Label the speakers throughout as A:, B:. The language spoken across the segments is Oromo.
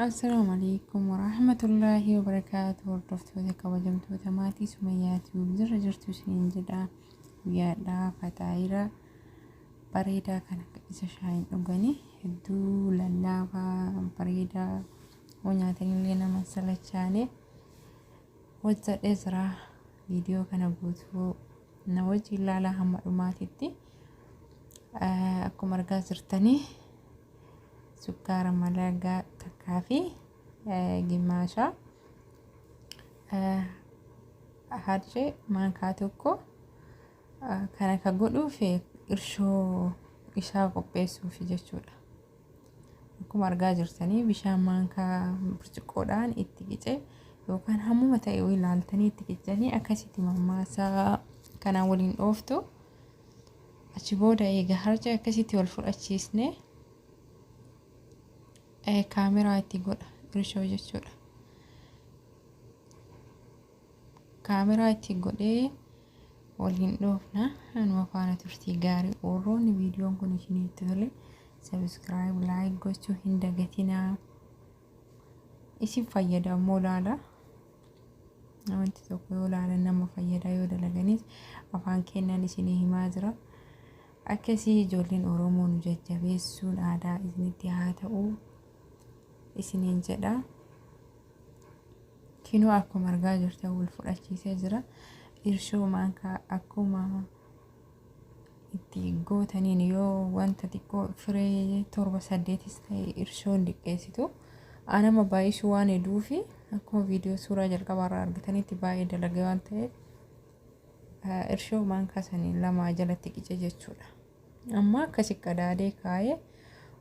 A: Assalaamu alaikum warahmatullaahi wabarakaatu hordoftoota kabajamtoota maatii Sumayyaa Tiyuub jirra jirtu isiniin jedha guyyaadhaa fataayiira bareedaa kana isa shaayiin dhuganii hedduu lallaafaa bareedaa yoo nyaatanillee nama hin salachaane hojjedhee jira viidiyoo kana guutuu na wajjin ilaalaa hamma dhumaatitti akkuma argaa jirtanii sukkaara malagaa takkaa fi gimmaashaa harcee maankaa tokko kan akka godhuuf irshoo isaa qopheessuuf jechuudha. Akkuma argaa jirtanii bishaan maankaa burcuqqoodhaan itti qicee yookaan hammuma ta'e ilaaltanii itti qicanii akkasitti mammaasaa kanaan waliin dhooftu. Achi booda eega harca akkasitti wal fudhachiisne kaameraa itti godha irshoo jechuudha. Kaameraa itti godhee waliin dhoofna anuma faana turtii gaarii warroonni viidiyoon kun isinitti tole sabiskiraayib laayik gochuu hin dagatinaa. isin fayyada ammoo laala wanti tokko yoo laalan nama fayyada yoo dalaganis afaan kennan isinii himaa jira akkasii ijoolleen oromoo nu jajjabeessuun aadaa isinitti haa ta'u isiniin jedha kinoo akkuma argaa jirtan wal fudhachiisee jira irshoo maankaa akkuma itti gootaniin yoo wanta xiqqoo firee torba saddeetis ta'e irshoon diqqeessitu anama baay'isuu waan heduu fi akkuma viidiyoo suuraa jalqabaa irraa argitanitti baay'ee dalagee waan ta'eef irshoo maankaa sanii lamaa jalatti qice jechuudha. Amma akkasi qadaadee kaa'ee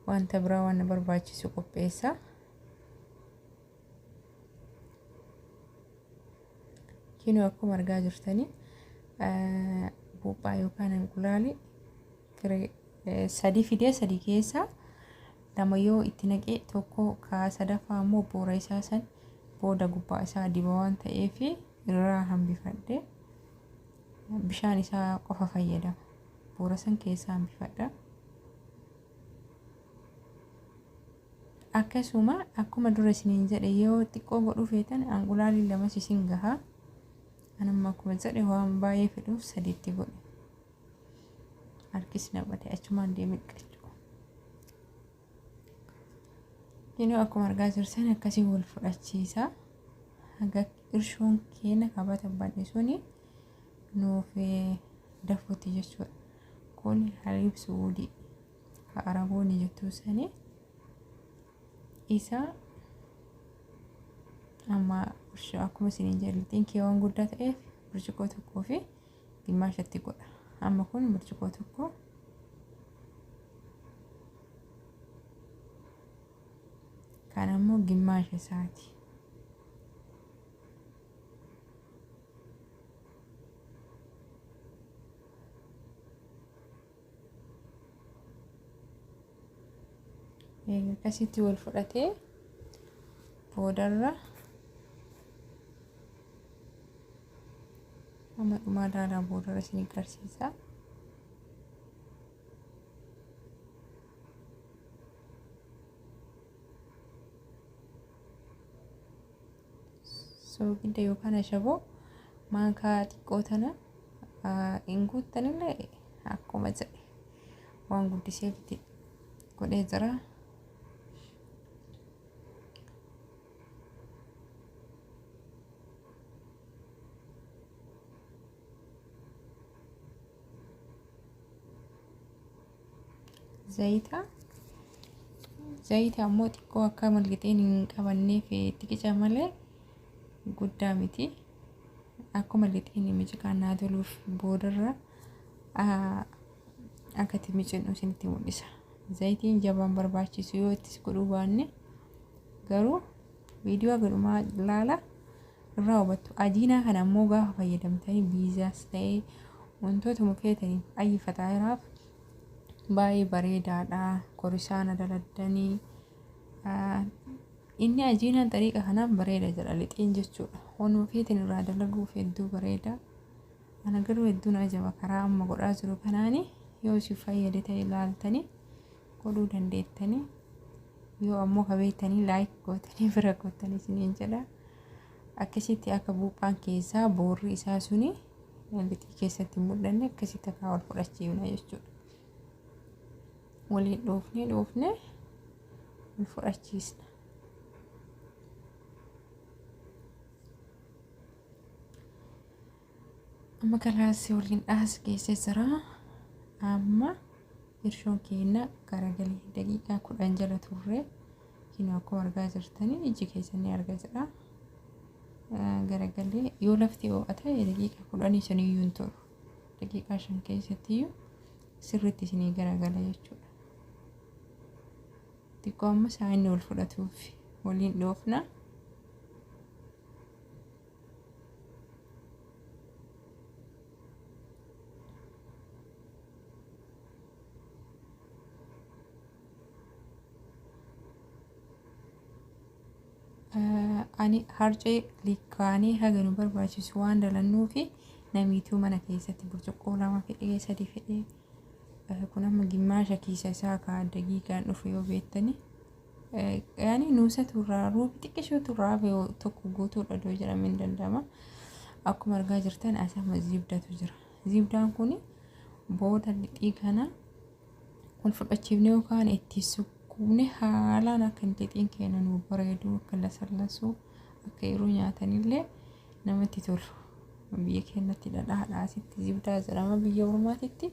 A: wanta biraa waan na barbaachisu qopheessa. Kinoo akkuma argaa jirtanii buuphaa yookaan inqulaali firee sadii fidee sadii keessaa lama yoo itti naqee tokko kaa sadaffaa ammoo boora isaa san booda gubbaa isaa diba waan ta'eef irraa hambifadhe bishaan isaa qofa fayyadama boora san keessaa hambifadha. akkasuma akkuma dura isiniin jedhe yoo xiqqoo godhuu feetan anqulaalii lamas isin gaha anamma akkuma jedhe waan baay'ee fedhuuf sadiitti godhe harkis na bade achumaan deemee dhiqachuu kinoo akkuma argaa jirtan akkasii wal fudhachiisa haga irshoon keenya qabata badhe suni nuufi dafuti jechuudha kuni hariib su'uudi ka arabooni jettuu sani isa amma akkuma isiniin jedhatiin keewwan guddaa ta'eef burcuqoo tokkoo fi gimmaashatti godha amma kun burcuqoo tokko kan ammoo gimmaasha isaati akkasitti wal fudhatee boodarra amma dhumaa ilaalaa boodarra isin agarsiisa. soogidda yookaan ashaboo maankaa xiqqoo tana hin guuttanillee akkuma jedhe waan guddisee itti godhee jira. Zayita. Zayita ammoo xiqqoo akka malqixeen hin qabanneef xiqica malee guddaa miti. Akkuma lixeen miciqaan naa toluuf boodarra akka itti micinnu isinitti mul'isa. Zayitiin jabaan barbaachisu yoo ittis godhuu baanne garuu viidiyoo gadhumaa ilaala. irraa hubattu. Ajiinaa kana ammoo gaafa fayyadamtanii biizaas ta'ee wantootuma feetaniif ayyi faxaayiraaf baay'ee bareedaadha. Korisaana daladdanii ah, inni ajiinaan xariiqa kanaan bareeda jedha lixiin jechuudha. Wanuma feetan irraa dalaguuf hedduu bareeda. Ana garuu hedduun ajaba karaa amma godhaa jiru kanaani yoo si fayyade ta'e ilaaltanii godhuu dandeettanii yoo ammoo ka beektanii laayik gootanii bira gootanii isiniin jedha akkasitti akka buuphaan keessaa boorri isaa suni lixii keessatti hin mul'anne akkasitti akka wal fudhachiifna jechuudha. Waliin dhoofnee dhoofnee wal fudhachiisna. Amma kalaas waliin dhaas geessee jira. Amma hirshoon keenya garagalee daqiiqaa kudhan jala turre. Kinoo akkuma argaa jirtanii ijji keessan ni arga jira. Garagalee yoo lafti oo'a ta'e daqiiqaa kudhanii saniyyuu hin turu. Daqiiqaa shan keessattiyyuu sirriitti isinii garagala jechuudha. Xiqqoo amma saayinni wal fudhatuuf waliin dhoofna. ani harcee likkaanii haga nu barbaachisu waan dalannuu fi namiituu mana keessatti burcuqqoo lama fedhee sadi fedhee kun amma gimmaasha kiisa isaa kaa dagiigaan dhufu yoo beektanii Yaani nuusa turraa roobi xiqqishoo turraa yoo tokko guutuudha doo jedhamee hin danda'ama. Akkuma argaa jirtan asama ziibdatu jira. Ziibdaan kun booda lixii kana wal fudhachiifnee yookaan itti sukkuumne haalaan akka hin lixiin keenya nu bareedu akka lasallasuu akka yeroo nyaatanillee namatti tolu. Biyya keenyatti dhadhaadhaa asitti ziibdaa jedhama biyya ormaatitti.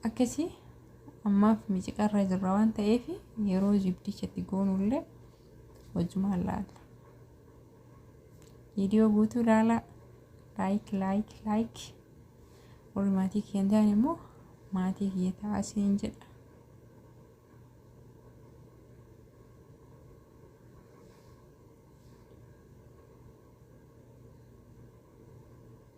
A: Akkasi ammaaf miciqarra jirra waan ta'eef yeroo zibdicha itti goonullee wajjumaan laalla. Viidiyoo guutuu laalaa laayik laayik laayik warri maatii kiyya hin taane immoo maatii kiyya ta'aa siin jedha.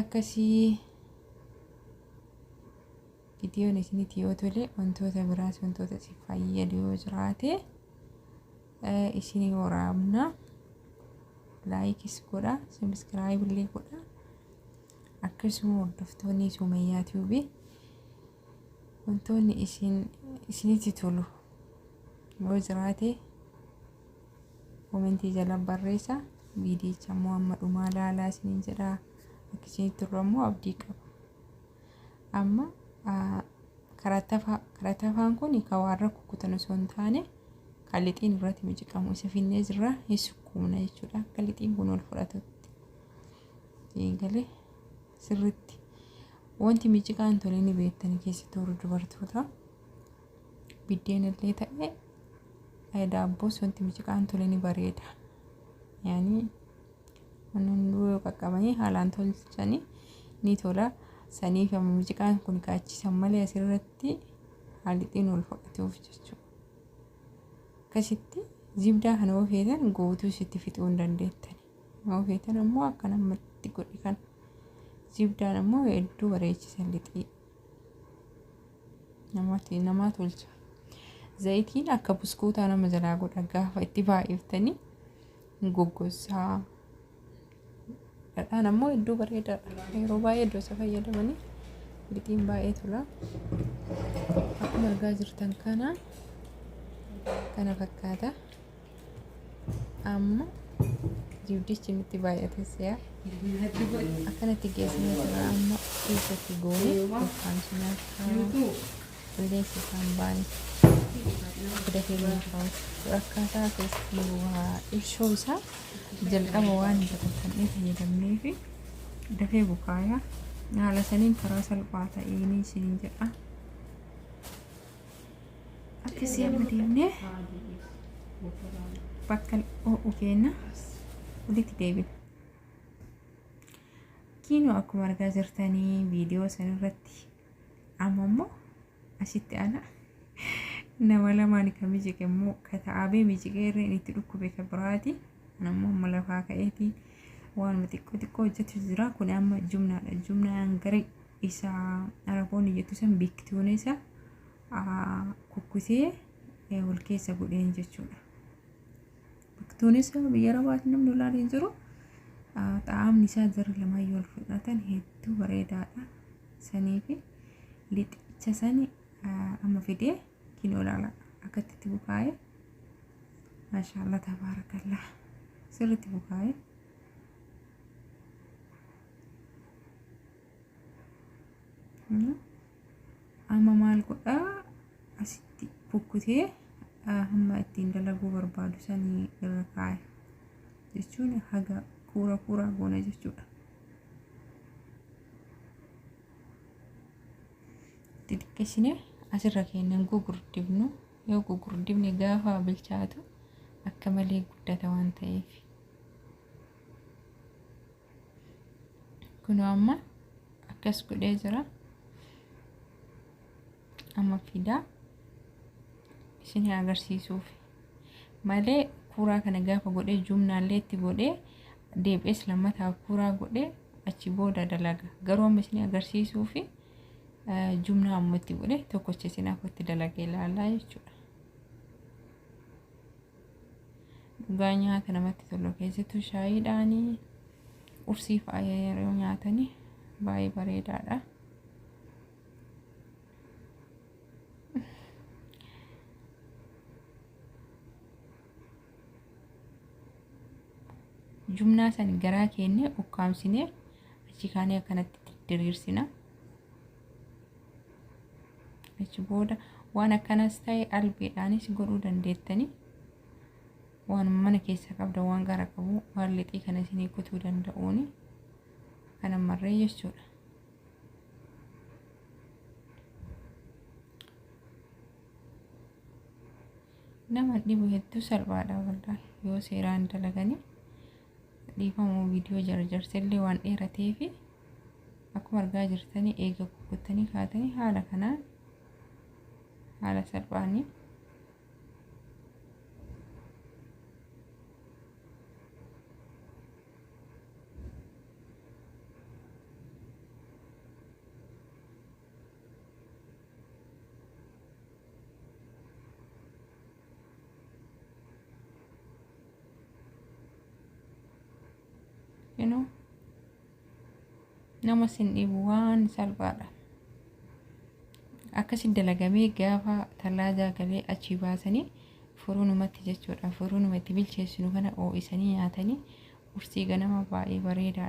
A: akkasii vidiyoon isinitti yoo tole wantoota biraas wantoota si fayyadu yoo jiraate isinii waraabna laayikis godha sabiskiraayib illee godha akkasuma hordoftoonni sumayyaa tiibii Wantoonni isin isinitti tolu yoo jiraate komentii jala barreessa viidiyicha immoo amma dhumaa laalaa isiniin jedha akka isinitti tolu ammoo abdii qaba. Amma ah, karatafaa karatafaan kun ka waan rakku kutan osoo hin taane kan lixiin irratti miciqamu isa finnee jirra hin sukkuumna jechuudha akka lixiin kun ol fudhatutti. Eegalee. Sirritti. Wanti miciqaa hin tole ni beektani keessatti warri dubartoota. Biddeen illee ta'e eh, daabboos wanti miciqaa hin tole ni bareeda. Yaani wanni hunduu yoo qaqqabanii haalaan tolchanii ni tola. Saniif amma miciqaan kun kaachisan malee asirratti haalixiin wal fudhatuuf jechuudha. Akkasitti zibdaa kana yoo feetan guutuu sitti fixuu hin dandeettani. Yoo feetan ammoo akka namatti godhi kan zibdaan ammoo hedduu bareechisan lixii namatti namaa tolcha. Zayitiin akka buskuutaa nama jalaa godha gaafa itti baay'iftanii hin goggossaa. Dhadhaan ammoo hedduu bareedaadha. Yeroo baay'ee iddoo isa fayyadamanii lixiin baay'ee tola. Akkuma argaa jirtan kana kana fakkaata. amma jibdichi nutti baay'atee si'a akkanatti geessanii jira amma keessatti goone yookaan sunaa qilleensi isaan baane fida keenya qabu akkaataa keessatti nu waa ibsuu isaa jalqaba waan dabalatanii fayyadamnee fi dafee bukaaya haala saniin karaa salphaa ta'een isin jedha. akkasii amma deemnee bakka ho'u keenya walitti deebina. Kiinoo akkuma argaa jirtanii viidiyoo san irratti amma immoo asitti ana nama lamaan kan mijiqe immoo ka ta'aabee mijiqee irreen itti dhukkube ka biraati. Ana immoo amma lafaa ka'eeti waanuma xiqqoo xiqqoo hojjetu jira kun amma jumnaadha jumnaan garee isa araboonni jettu san biiktuune isa kukkutee wal keessa godheen jechuudha. Biiktuun isa biyya arabaati namni olaanaa hin jiru. Xaa'amni isaa jarri lamaayyuu wal fudhatan hedduu bareedaadha. Sanii fi lixicha sani amma fidee kin olaala akkatti itti bukaa'ee maashaallah tabaarakallah sirriitti bukaa'ee. amma maal godhaa asitti bukkutee hamma ittiin dalaguu barbaadu sanii irra kaaya jechuun haga kuura kuura goona jechuudha. Xixiqqeessine asirra keenyan gugurdifnu yoo gugurdifne gaafa bilchaatu akka malee guddata waan ta'eef. kunoo amma akkas godhee jira amma fidaa isin agarsiisuuf malee kuuraa kana gaafa godhee jumnaallee itti godhee deebi'ees lammataa kuuraa godhee achi booda dalaga garuu amma isin agarsiisuu fi jumnaa amma itti godhee tokkocha isin akka itti dalagee ilaalaa jechuudha. Dhugaa nyaata namatti tolu keessattuu shaayiidhaan qursii faaya yeroo nyaatanii baay'ee bareedaadha. Jumnaa san garaa keennee ukkaamsinee achi kaanee akkanatti diriirsina. achi booda waan akkanas ta'e albeedhaanis godhuu dandeettanii waan mana keessaa qabda waan gara qabu waan lixii kana isinii kutuu danda'uuni kana marree jechuudha. nama dhibu hedduu salphaadha waldaa yoo seeraan dalaganii Dhiifama viidiyoo jarjarse illee waan dheerateef akkuma argaa jirtanii eega kukkuttanii kaatanii haala kanaan haala salphaanii you know nama sin dhibu waan salphaadha akkasi dalagamee gaafa tallaadaa galee achi baasanii furuunumatti jechuudha furuunuma itti bilcheessinu kana oo'isanii nyaatanii ursii ganama baay'ee bareedaadha